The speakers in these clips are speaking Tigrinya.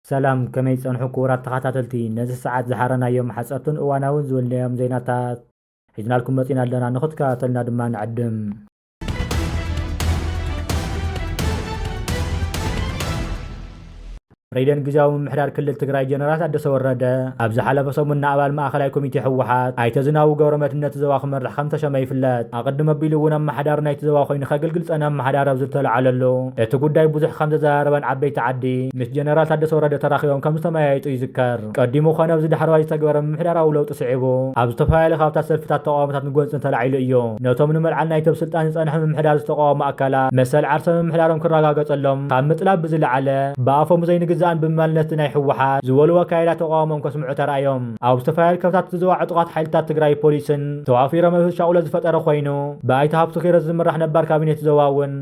ሰላም ከመይ ጸንሑ ክቡራት ተኸታተልቲ ነዚ ሰዓት ዝሓረናዮም ሓጸርትን እዋናውን ዝብልናዮም ዜናታት ሒዝናልኩም መጺና ኣለና ንኽትከታተሉና ድማ ንዕድም ፕሬዚደንት ግዜያዊ ምምሕዳር ክልል ትግራይ ጀነራል ታደሰ ወረደ ኣብ ዝሓለፈ ሰሙን ንኣባል ማእኸላይ ኮሚቴ ህወሓት ኣይተ ዝናቡ ገብረመድህን ነቲ ዞባ ክመርሕ ከም ተሸመ ይፍለጥ ኣቐድም ኣቢሉ እውን ኣመሓዳሪ ናይቲ ዞባ ኮይኑ ከገልግል ፀነ ኣመሓዳሪ ኣብ ዝተለዓለሉ እቲ ጉዳይ ብዙሕ ከም ዘዘራረበን ዓበይቲ ዓዲ ምስ ጀነራል ታደሰ ወረደ ተራኺቦም ከም ዝተመያየጡ ይዝከር ቀዲሙ ኮነ ኣብዚ ዳሕረዋይ ዝተግበረ ምምሕዳራዊ ለውጢ ስዒቡ፣ ኣብ ዝተፈላለዩ ካብታት ሰልፍታት ተቓዋሞታት ንጎንፅን ተላዒሉ እዩ። ነቶም ንመልዓል ናይቲ ኣብ ስልጣን ዝፀንሐ ምምሕዳር ዝተቓወሙ ኣካላት መሰል ዓርሰ ምምሕዳሮም ክረጋገፀሎም ካብ ምጥላብ ብዝለዓለ፣ ብኣፎም ዘይንግዛእን ብምባል ነቲ ናይ ህወሓት ዝበልዎ ኣካይዳ ተቓውሞኦም ከስምዑ ተራእዮም። ኣብ ዝተፈላለዩ ከብታት ዝዘዋ ዕጡቓት ሓይልታት ትግራይ ፖሊስን ተዋፊሮም እቲ ሻቕሎት ዝፈጠረ ኮይኑ፣ ብኣይተ ሃፍቱ ኪሮስ ዝምራሕ ነባር ካቢኔ እቲ ዞባ እውን፣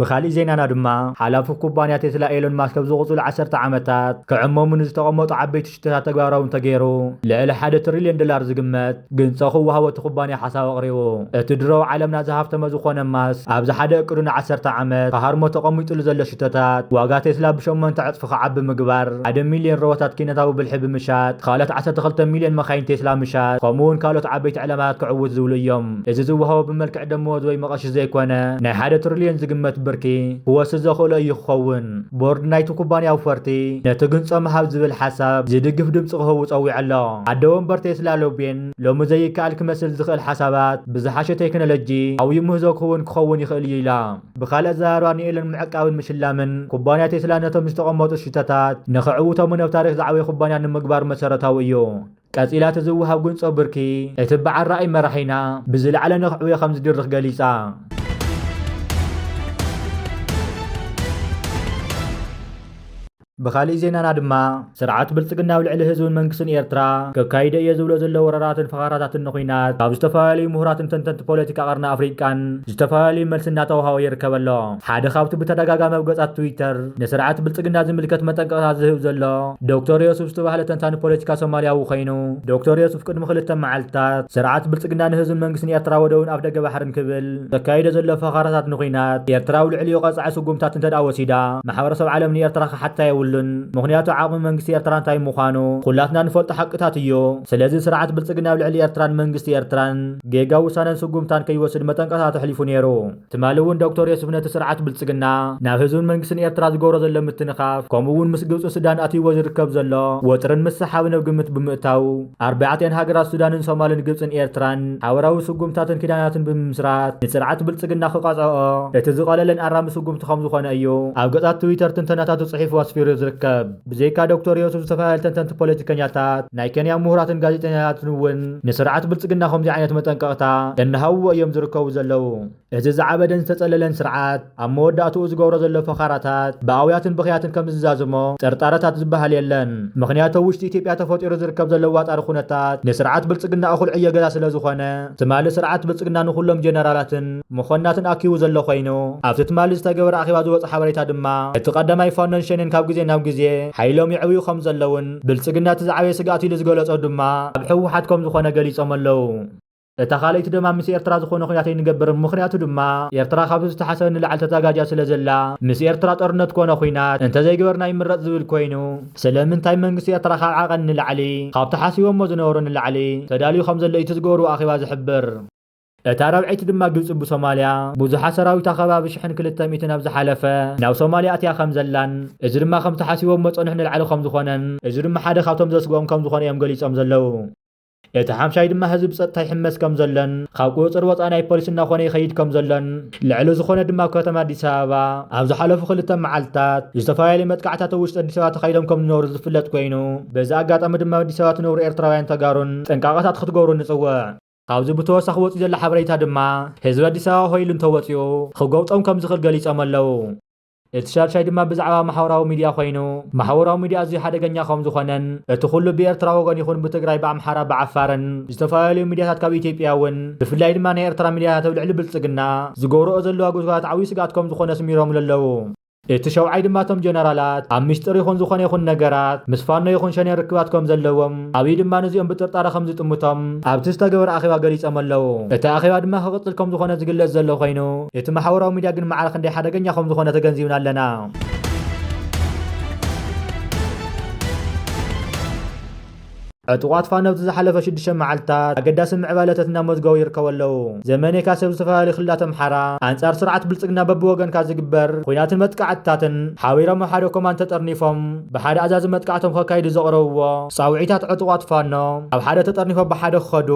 ብኻሊእ ዜናና ድማ ሓላፊ ኩባንያ ቴስላ ኤሎን ማስክ ኣብ ዝቕፅሉ ዓሰርተ ዓመታት ክዕመሙ ንዝተቐመጡ ዓበይቲ ሽቶታት ተግባራዊ እንተገይሩ ልዕሊ ሓደ ትሪልዮን ዶላር ዝግመት ግንፆ ክወሃቦ እቲ ኩባንያ ሓሳብ ኣቕሪቡ። እቲ ድሮ ኣብ ዓለምና ዝሃፍተመ ዝኾነ ማስክ ኣብዚ ሓደ እቅዱ ንዓሰርተ ዓመት ክሃርሞ ተቐሚጥሉ ዘሎ ሽቶታት ዋጋ ቴስላ ብሸሞንተ ዕፅፊ ክዓቢ ምግባር፣ ሓደ ሚልዮን ሮቦታት ኪነታዊ ብልሒ ብምሻጥ፣ ካልኦት ዓሰርተ ክልተ ሚልዮን መካይን ቴስላ ምሻጥ ከምኡ እውን ካልኦት ዓበይቲ ዕላማታት ክዕውት ዝብሉ እዮም። እዚ ዝወሃቦ ብመልክዕ ደመወዝ ወይ መቐሺ ዘይኮነ ናይ ሓደ ትሪልዮን ዝግመት ብርኪ ክወስድ ዘኽእሎ እዩ ክኸውን። ቦርድ ናይቲ ኩባንያ ኣውፈርቲ ነቲ ግንፆ ምሃብ ዝብል ሓሳብ ዝድግፍ ድምፂ ክህቡ ፀዊዑ ኣሎ። ኣደ ወንበር ቴስላ ሎቤን ሎሚ ዘይከኣል ክመስል ዝኽእል ሓሳባት ብዝሓሸ ቴክኖሎጂ ዓብዩ ምህዞ ክህቡን ክኸውን ይኽእል እዩ ኢላ። ብኻልእ ኣዘራርባ ንኤለን ምዕቃብን ምሽላምን ኩባንያ ቴስላ ነቶም ዝተቐመጡ ሽቶታት ንክዕውቶምን ኣብ ታሪኽ ዝዓበየ ኩባንያ ንምግባር መሰረታዊ እዩ። ቀጺላ እቲ ዝወሃብ ጉንጾ ብርኪ እቲ በዓል ራእይ መራሒና ብዝለዓለ ነኽዕውዮ ከምዝድርኽ ገሊጻ። ብኻሊእ ዜናና ድማ ስርዓት ብልጽግና ኣብ ልዕሊ ህዝብን መንግስትን ኤርትራ ከካይዶ እየ ዝብሎ ዘሎ ወረራትን ፈኸራታትን ንኹናት ካብ ዝተፈላለዩ ምሁራትን ተንተንቲ ፖለቲካ ቀርኒ ኣፍሪቃን ዝተፈላለዩ መልሲ እናተወሃቦ ይርከብ ኣሎ። ሓደ ካብቲ ብተደጋጋሚ ኣብ ገጻት ትዊተር ንስርዓት ብልጽግና ዝምልከት መጠንቀቕታ ዝህብ ዘሎ ዶክተር ዮሱፍ ዝተባህለ ተንታኒ ፖለቲካ ሶማልያዊ ኮይኑ፣ ዶክተር ዮሱፍ ቅድሚ ክልተ መዓልታት፣ ስርዓት ብልጽግና ንህዝብን መንግስትን ኤርትራ ወደብን ኣፍደገ ባሕርን ክብል ዘካይዶ ዘሎ ፈኸራታት ንኩናት ኤርትራ ኣብ ልዕሊኡ ቀጻዒ ስጉምታት እንተድኣ ወሲዳ ማሕበረሰብ ዓለም ንኤርትራ ክሓታ የብሉን ምኽንያቱ ዓቕሚ መንግስቲ ኤርትራ እንታይ ምዃኑ ኩላትና ንፈልጦ ሓቅታት እዩ ስለዚ ስርዓት ብልጽግና ኣብ ልዕሊ ኤርትራን መንግስቲ ኤርትራን ጌጋ ውሳነን ስጉምታን ከይወስድ መጠንቀቕታ ተሕሊፉ ነይሩ። ትማሊ እውን ዶክተር ዮሱፍ ነቲ ስርዓት ብልጽግና ናብ ህዝብን መንግስትን ኤርትራ ዝገብሮ ዘሎ ምትንኻፍ ከምኡ እውን ምስ ግብጽን ሱዳን ኣትይዎ ዝርከብ ዘሎ ወጥርን ምስሕሓብን ኣብ ግምት ብምእታው ኣርባዕቲኣን ሃገራት ሱዳንን ሶማልን ግብጽን ኤርትራን ሓበራዊ ስጉምትታትን ኪዳናትን ብምምስራት ንስርዓት ብልጽግና ክቀጽዕኦ እቲ ዝቀለለን ኣራሚ ስጉምቲ ከምዝኾነ እዩ ኣብ ገጻት ትዊተር ትንተናታቱ ጽሒፉ ኣስፊሩ ዝርከብ። ብዘይካ ዶክተር ዮሱፍ ዝተፈላለዩ ተንተንቲ ፖለቲከኛታት ናይ ከንያ ምሁራትን ጋዜጠኛታትን እውን ንስርዓት ብልፅግና ከምዚ ዓይነት መጠንቀቕታ እናሃብዎ እዮም ዝርከቡ ዘለዉ። እዚ ዝዓበደን ዝተፀለለን ስርዓት ኣብ መወዳእትኡ ዝገብሮ ዘሎ ፈኻራታት ብኣውያትን ብኽያትን ከምዝዛዝሞ ጥርጣረታት ዝበሃል የለን። ምኽንያቱ ኣብ ውሽጢ ኢትዮጵያ ተፈጢሩ ዝርከብ ዘሎ ዋጣሪ ኩነታት ንስርዓት ብልፅግና እኹል ዕዮ ገዛ ስለዝኾነ ትማሊ ስርዓት ብልፅግና ንኹሎም ጀነራላትን መኮንናትን ኣኪቡ ዘሎ ኮይኑ፣ ኣብቲ ትማሊ ዝተገበረ ኣኼባ ዝወጸ ሓበሬታ ድማ፣ እቲ ቀዳማይ ፋኖን ሸኔን ካብ ግዜ ናብ ግዜ ሓይሎም ይዕብዩ ከም ዘለዉን፣ ብልጽግና እቲ ዝዓበየ ስግኣት ኢሉ ዝገለጾ ድማ ኣብ ህወሓት ከም ዝኾነ ገሊጾም ኣለዉ። እታ ካልኣይቲ ደማ ምስ ኤርትራ ዝኾነ ኩናት ኣይንገብርን ምኽንያቱ ድማ ኤርትራ ካብቲ ዝተሓሰበ ንላዕሊ ተዛጋጃ ስለ ዘላ ምስ ኤርትራ ጦርነት ኮነ ኩናት እንተዘይገበርና ይምረጽ ዝብል ኮይኑ ስለምንታይ መንግስቲ ኤርትራ ካብ ዓቐን ንላዕሊ ካብቲ ሓሲቦሞ ዝነበሩ ንላዕሊ ተዳልዩ ከም ዘሎ ኢዩ እቲ ዝገበርዎ ኣኼባ ዝሕብር። እታ ራብዐይቲ ድማ ግብፂ ብሶማልያ ብዙሓ ሰራዊታ ከባቢ ሽሕን ክልተ ሚእትን ኣብ ዝሓለፈ ናብ ሶማልያ ኣትያ ከም ዘላን እዚ ድማ ከም ተሓሲቦሞ ፀንሑ ንላዕሊ ከም ዝኾነን እዚ ድማ ሓደ ካብቶም ዘስግኦም ከም ዝኾነ እዮም ገሊፆም ዘለው። እቲ ሓምሻይ ድማ ህዝቢ ብፀጥታ ይሕመስ ከም ዘሎን ካብ ቁፅፅር ወፃኢ ናይ ፖሊስ እናኾነ ይኸይድ ከም ዘሎን ልዕሊ ዝኾነ ድማ ኣብ ከተማ ኣዲስ ኣበባ ኣብ ዝሓለፉ ክልተ መዓልትታት ዝተፈላለዩ መጥቃዕታት ኣብ ውሽጢ ኣዲስ ኣበባ ተኻይዶም ከም ዝነበሩ ዝፍለጥ ኮይኑ በዚ ኣጋጣሚ ድማ ኣዲስ ኣበባ ትነብሩ ኤርትራውያን ተጋሩን ጥንቃቐታት ክትገብሩ ንፅውዕ። ካብዚ ብተወሳኺ ወፂኡ ዘሎ ሓበሬታ ድማ ህዝቢ ኣዲስ ኣበባ ሆይ ኢሉ እንተወፂኡ ኽጎብጦም ከምዝኽእል ገሊፆም ኣለው። እቲ ሻድሻይ ድማ ብዛዕባ ማሕበራዊ ሚድያ ኾይኑ ማሕበራዊ ሚድያ ኣዝዩ ሓደገኛ ከምዝኾነን እቲ ኹሉ ብኤርትራ ወገን ይኹን ብትግራይ ብኣምሓራ ብዓፋርን ዝተፈላለዩ ሚድያታት ካብ ኢትዮጵያ ውን ብፍላይ ድማ ናይ ኤርትራ ሚድያታት ኣብ ልዕሊ ብልፅግና ዝገብርኦ ዘለዋ ጉስጓስት ዓብዩ ስግኣት ከምዝኾነ ኣስሚሮምሉ ኣለው። እቲ ሸውዓይ ድማ እቶም ጀነራላት ኣብ ሚስጥር ይኹን ዝኾነ ይኹን ነገራት ምስ ፋኖ ይኹን ሸኔ ርክባት ከም ዘለዎም ኣብይ ድማ ንዚኦም ብጥርጣረ ከም ዝጥምቶም ኣብቲ ዝተገበረ ኣኼባ ገሊጾም ኣለው። እቲ ኣኼባ ድማ ክቕጽል ከም ዝኾነ ዝግለጽ ዘሎ ኮይኑ እቲ ማሕበራዊ ሚድያ ግን ማዕረ ክንደይ ሓደገኛ ከም ዝኾነ ተገንዚብና ኣለና። ዕጡቓት ፋኖ ኣብቲ ዝሓለፈ ሽዱሽተ መዓልትታት ኣገዳሲ ምዕባለታት እናመዝገቡ ይርከቡ ኣለዉ። ዘመነይካ ሰብ ዝተፈላለዩ ክልላት ኣምሓራ ኣንጻር ስርዓት ብልጽግና በብወገንካ ዝግበር ኹናትን መጥቃዕትታትን ሓቢሮም ኣብ ሓደ ኮማንድ ተጠርኒፎም ብሓደ ኣዛዚ መጥቃዕቶም ከካይዱ ዘቕረብዎ ጻውዒታት ዕጡቓት ፋኖ ኣብ ሓደ ተጠርኒፎም ብሓደ ክኸዱ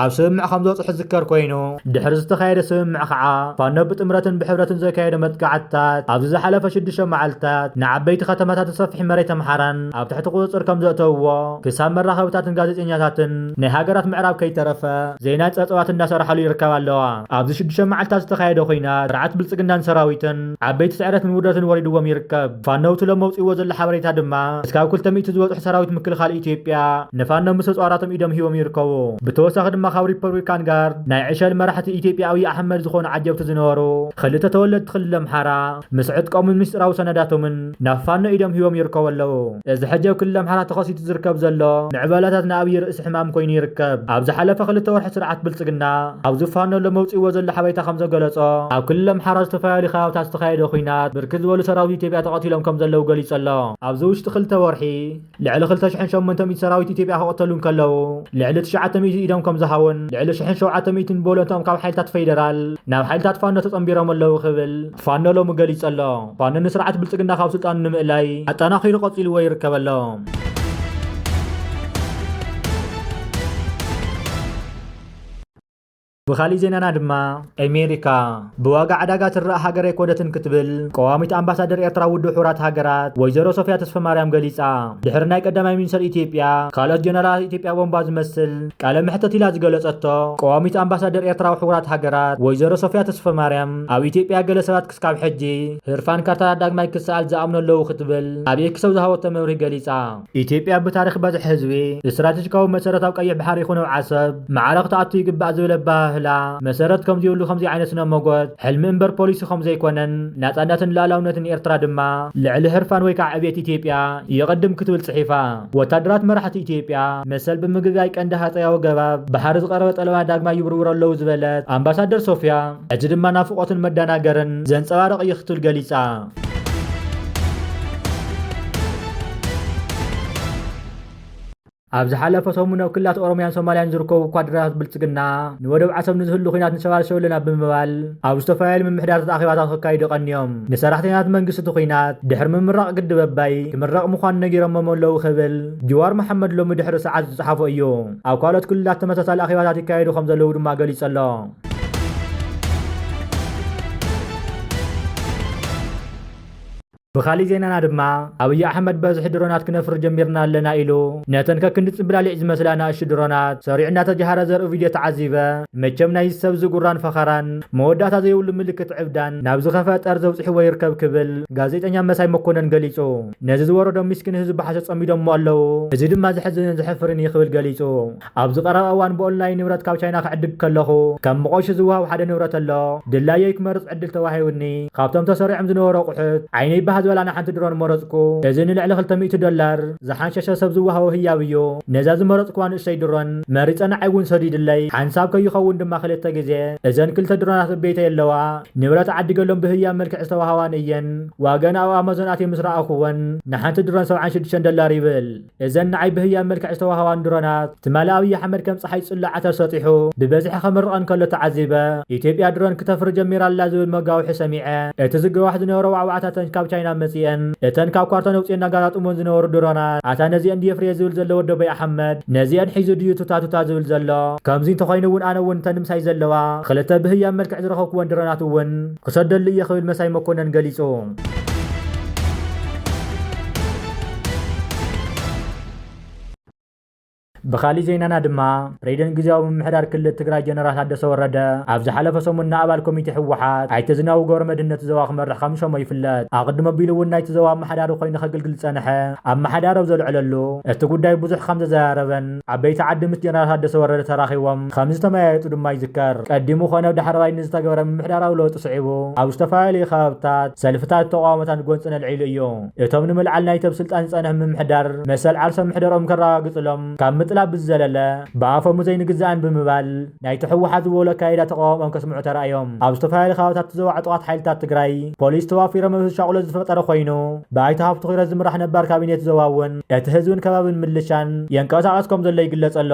ኣብ ስምምዕ ከምዝበጽሑ ዝዝከር ኮይኑ ድሕሪ ዝተኻየደ ስምምዕ ከዓ ፋኖ ብጥምረትን ብሕብረትን ዘካየዶ መጥቃዕትታት ኣብዚ ዝሓለፈ ሽዱሽተ መዓልትታት ንዓበይቲ ከተማታትን ሰፊሕ መሬት ኣምሓራን ኣብ ትሕቲ ቁፅፅር ከምዘእተውዎ ክሳብ መራኸብታትን ጋዜጠኛታትን ናይ ሃገራት ምዕራብ ከይተረፈ ዘይናይ ፀፀዋት እንዳሰራሓሉ ይርከባ ኣለዋ። ኣብዚ ሽዱሽተ መዓልትታት ዝተኻየደ ኹናት ስርዓት ብልፅግናን ሰራዊትን ዓበይቲ ስዕረትን ውርደትን ወሪድዎም ይርከብ። ፋኖ ብትሎም መውፂእዎ ዘሎ ሓበሬታ ድማ እስካብ ክልተ ሚእቲ ዝበፅሑ ሰራዊት ምክልኻል ኢትዮጵያ ንፋኖ ምስ ተፅዋራቶም ኢዶም ሂቦም ይርከቡ። ብተወሳኺ ድማ ካብ ሪፐብሊካን ጋርድ ናይ ዕሸል መራሕቲ ኢትዮጵያ ኣብይ ኣሕመድ ዝኾኑ ዓጀብቲ ዝነበሩ ኽልተ ተወለድቲ ክልል ኣምሓራ ምስ ዕጥቆምን ምስጢራዊ ሰነዳቶምን ናብ ፋኖ ኢዶም ሂቦም ይርከቡ ኣለዉ። እዚ ሕጂ ኣብ ክልል ኣምሓራ ተኸሲቱ ዝርከብ ዘሎ ምዕባለታት ንኣብይ ርእሲ ሕማም ኮይኑ ይርከብ። ኣብ ዝሓለፈ ክልተ ወርሒ ስርዓት ብልጽግና ኣብዚ ፋኖ ሎም ኣውጺእዎ ዘሎ ሓበሬታ ከምዘገለጾ፣ ኣብ ክልል ኣምሓራ ዝተፈላለዩ ከባብታት ዝተኻየደ ኹናት ብርክት ዝበሉ ሰራዊት ኢትዮጵያ ተቐቲሎም ከምዘለዉ ገሊጹ ኣሎ። ኣብዚ ውሽጢ ክልተ ወርሒ። ልዕሊ ክልተ ሽሕን ሸሞንተ ሚእቲ ሰራዊት ኢትዮጵያ ክቕተሉ እንከለዉ፣ ልዕሊ ትሽዓተ ሚእቲ ኢዶም ከምዝሃቡን ልዕሊ ሽሕን ሸውዓተ ሚእቲን ብወለንትኦም ካብ ሓይልታት ፌደራል ናብ ሓይልታት ፋኖ ተጸንቢሮም ኣለዉ ክብል ፋኖ ሎሚ ገሊጹ ኣሎ። ፋኖ ንስርዓት ብልጽግና ካብ ስልጣኑ ንምእላይ ኣጠናኺሩ ቀጺልዎ ይርከብ ኣሎ። ብኻሊእ ዜናና ድማ ኤሜሪካ ብዋጋ ዕዳጋ ትረኣ ሃገር ኣይኮነትን ክትብል ቀዋሚት ኣምባሳደር ኤርትራ ውድብ ሕቡራት ሃገራት ወይዘሮ ሶፍያ ተስፈማርያም ገሊጻ። ድሕሪ ናይ ቀዳማይ ሚኒስተር ኢትዮጵያ ካልኦት ጀነራላት ኢትዮጵያ ቦምባ ዝመስል ቃለ መሕተት ኢላ ዝገለጸቶ ቀዋሚት ኣምባሳደር ኤርትራ ኣብ ሕቡራት ሃገራት ወይዘሮ ሶፍያ ተስፈማርያም ኣብ ኢትዮጵያ ገለ ሰባት ክሳብ ሕጂ ህርፋን ካርታታት ዳግማይ ክሰኣል ዝኣምኑ ኣለዉ ክትብል ኣብ ኤክስ ኣብ ዝሃበቶ መብርሂ ገሊጻ። ኢትዮጵያ ብታሪኽ በዝሒ ህዝቢ፣ ስትራቴጂካዊ መሰረት ኣብ ቀይሕ ባሕሪ ይኹን ኣብ ዓሰብ ማዕረ ክትኣቱ ይግባእ ዝብል ኣበሃህላ መሰረት ከምዝይብሉ ከምዚ ዓይነት ስነ ሞጎት ሕልሚ እምበር ፖሊሲ ከምዘይኮነን ናጻነትን ልኣላውነትን ኤርትራ ድማ ልዕሊ ህርፋን ወይ ከኣ ዕብየት ኢትዮጵያ ይቕድም ክትብል ጽሒፋ። ወታደራት መራሕቲ ኢትዮጵያ መሰል ብምግጋይ ቀንዲ ሃጸያዊ ገባብ ባሕሪ ዝቐረበ ጠለባት ዳግማይ ይብርብሩ ኣለዉ ዝበለት ኣምባሳደር ሶፍያ፣ እቲ ድማ ናፍቖትን መደናገርን ዘንጸባርቕ እዩ ክትብል ገሊጻ። ኣብ ዝሓለፈ ሰሙን ኣብ ክልላት ኦሮምያን ሶማልያን ዝርከቡ ኳድራታት ብልጽግና ንወደብ ዓሰብ ንዝህሉ ኩናት ንሸባልሸው ኣለና ብምባል ኣብ ዝተፈላለዩ ምምሕዳራት ኣኼባታት ክካይዱ ቀንዮም ንሰራሕተኛታት መንግስቲ እቲ ኩናት ድሕሪ ምምራቕ ግድብ ኣባይ ክምረቕ ምዃኑ ነጊሮሞም ኣለዉ ክብል ጅዋር መሓመድ ሎሚ ድሕሪ ሰዓት ዝጸሓፎ እዩ ኣብ ካልኦት ክልላት ተመሳሳሊ ኣኼባታት ይካየዱ ከም ዘለዉ ድማ ገሊጹ ኣሎ ብካሊእ ዜናና ድማ ኣብዪ ኣሕመድ በዝሒ ድሮናት ክነፍሪ ጀሚርና ኣለና ኢሉ ነተን ከክንዲ ጽብላሊዕ ዝመስላ ናእሹ ድሮናት ሰሪዑ እናተጀሃረ ዘርኢ ቪድዮ ተዓዚበ መቸም ናይ ሰብ ዝጉራን ፈኸራን መወዳእታ ዘይብሉ ምልክት ዕብዳን ናብ ዝኸፈ ጠር ዘውፅሕዎ ይርከብ ክብል ጋዜጠኛ መሳይ መኮነን ገሊጹ ነዚ ዝወረዶም ሚስኪን ህዝቢ ብሓሶት ጸሚዶሞ ኣለዉ እዚ ድማ ዘሕዝንን ዘሕፍርን እዩ ክብል ገሊጹ ኣብዚ ቀረባ እዋን ብኦንላይን ንብረት ካብ ቻይና ክዕድግ ከለኹ ከም መቖሺ ዝወሃብ ሓደ ንብረት ኣሎ። ድላየይ ክመርጽ ዕድል ተዋሂቡኒ። ካብቶም ተሰሪዖም ዝነበሩ ኣቑሑት ዓይነይ ባህ ዝበላ ንሓንቲ ድሮን መረጽኩ። እዚ ንልዕሊ ክልተ ሚእቲ ዶላር ዝሓንሸሸ ሰብ ዝወሃቦ ህያብ እዩ። ነዛ ዝመረጽኩዋ ንእሽተይ ድሮን መሪጸ ንዓይ እውን ሰዲድለይ። ሓንሳብ ከይኸውን ድማ ክልተ ግዜ እዘን ክልተ ድሮናት እብ ቤተይ ኣለዋ። ንብረት ዓዲገሎም ብህያብ መልክዕ ዝተወሃባኒ እየን። ዋገን ኣብ ኣማዞን ኣትየ ምስ ረኣኹወን ንሓንቲ ድሮን ሰብዓን ሽዱሽተን ዶላር ይብል። እዘን ንዓይ ብህያብ መልክዕ ዝተዋህባኒ ድሮናት፣ ትማሊ ኣብይ ኣሕመድ ከም ጸሓይ ጽሉል ዓተር ሰጢሑ ብበዝሒ ከምርቐን ከሎ ተዓዚበ። ኢትዮጵያ ድሮን ክተፍሪ ጀሚራ ኣላ ዝብል መጋውሒ ሰሚዐ። እቲ ዝገዋሕ ዝነበረ ዋዕዋዕታ እተን ካብ ቻይና መጺኤን እተን ካብ ኳርቶን ኣውጺኤን ኣጋጣጥሞን ዝነበሩ ድሮናት ኣታ ነዚኤን ድየ ፍርየ ዝብል ዘሎ ወዲ ኣበይ ኣሕመድ ነዚኤን ሒዙ ድዩ ቱታ ቱታ ዝብል ዘሎ? ከምዚ እንተኾይኑ እውን ኣነ እውን እተን ምሳይ ዘለዋ ክልተ ብህያብ መልክዕ ዝረኸብኩወን ድሮናት እውን ክሰደሉ እየ ክብል መሳይ መኮነን ገሊጹ። ብካሊእ ዜናና ድማ ፕሬዚደንት ግዜያዊ ምምሕዳር ክልል ትግራይ ጀነራል ታደሰ ወረደ ኣብ ዝሓለፈ ሰሙን ንኣባል ኮሚቴ ህወሓት ኣይተ ዝናቡ ገብረ መድህነት ዘዋ ክመርሕ ከም ዝሸሞ ይፍለጥ ኣቕድሞ ኣቢሉ እውን ናይቲ ዘዋ ኣመሓዳሪ ኮይኑ ከገልግል ዝፀንሐ ኣመሓዳሪ ኣብ ዘልዕለሉ እቲ ጉዳይ ብዙሕ ከም ዘዘራረበን ዓበይቲ ዓዲ ምስ ጀነራል ታደሰ ወረደ ተራኺቦም ከምዝተመያየጡ ድማ ይዝከር። ቀዲሙ ኮነ ዳሕረዋይ ንዝተገበረ ምምሕዳራዊ ለውጢ ስዒቡ ኣብ ዝተፈላለዩ ከባብታት ሰልፍታት ተቋውሞታን ጎንፅን ኣልዒሉ እዩ። እቶም ንምልዓል ናይቲ ኣብ ስልጣን ዝፀንሐ ምምሕዳር መሰል ዓርሰ ምሕደርኦም ከረጋግፅሎም ካብ ምጥላብ ብዝዘለለ ብኣፈሙዘይ ንግዛእን ብምባል ናይቲ ህወሓት ዝበሎ ኣካይዳ ተቓውሞኦም ከስምዑ ተራእዮም። ኣብ ዝተፈላለዩ ከባቢታት ዞባ ዕጡቓት ሓይልታት ትግራይ ፖሊስ ተዋፊሮም እዚ ሻቕሎት ዝፈጠረ ኮይኑ፣ ብኣይተ ሃፍቱ ኪሮስ ዝምራሕ ነባር ካቢኔ'ቲ ዞባ እውን እቲ ህዝብን ከባቢን ምልሻን የንቀሳቕስ ከም ዘሎ ይግለጽ ኣሎ።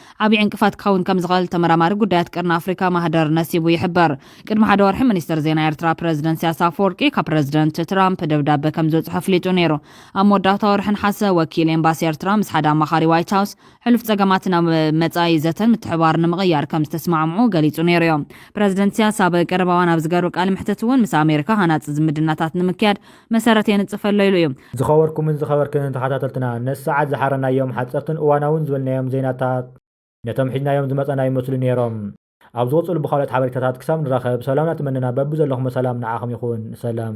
ዓብዪ ዕንቅፋት ክኸውን ከም ዝኽእል ተመራማሪ ጉዳያት ቀርኒ ኣፍሪካ ማህደር ነሲቡ ይሕበር። ቅድሚ ሓደ ወርሒ ሚኒስትር ዜና ኤርትራ ፕረዚደንት ኢሳያስ ኣፈወርቂ ካብ ፕረዚደንት ትራምፕ ደብዳበ ከም ዝበጽሖ ኣፍሊጡ ነይሩ። ኣብ መወዳእታ ወርሒ ነሓሰ ወኪል ኤምባሲ ኤርትራ ምስ ሓደ ኣማኻሪ ዋይት ሃውስ ሕሉፍ ጸገማት ናብ መጻኢ ዘተን ምትሕብባርን ንምቕያር ከም ዝተስማዕምዑ ገሊጹ ነይሩዮ። ፕረዚደንት ኢሳያስ ኣብ ቀረባ እዋን ኣብ ዝገሩ ቃለ መሕትት እውን ምስ ኣሜሪካ ሃናጺ ዝምድናታት ንምክያድ መሰረት የንጽፈሎ ኢሉ እዩ። ዝኸበርኩምን ዝኸበርክንን ተኸታተልትና ነዚ ሰዓት ዝሓረናዮም ሓጸርትን እዋናውን ዝበልናዮም ዜናታት ነቶም ሒዝናዮም ዝመጸና ይመስሉ ኔሮም። ኣብ ዝቕጽሉ ብኻልኦት ሓበሬታታት ክሳብ ንራኸብ ሰላምና ተመነና በብዘለኹሞ ሰላም ንዓኹም ይኹን ሰላም።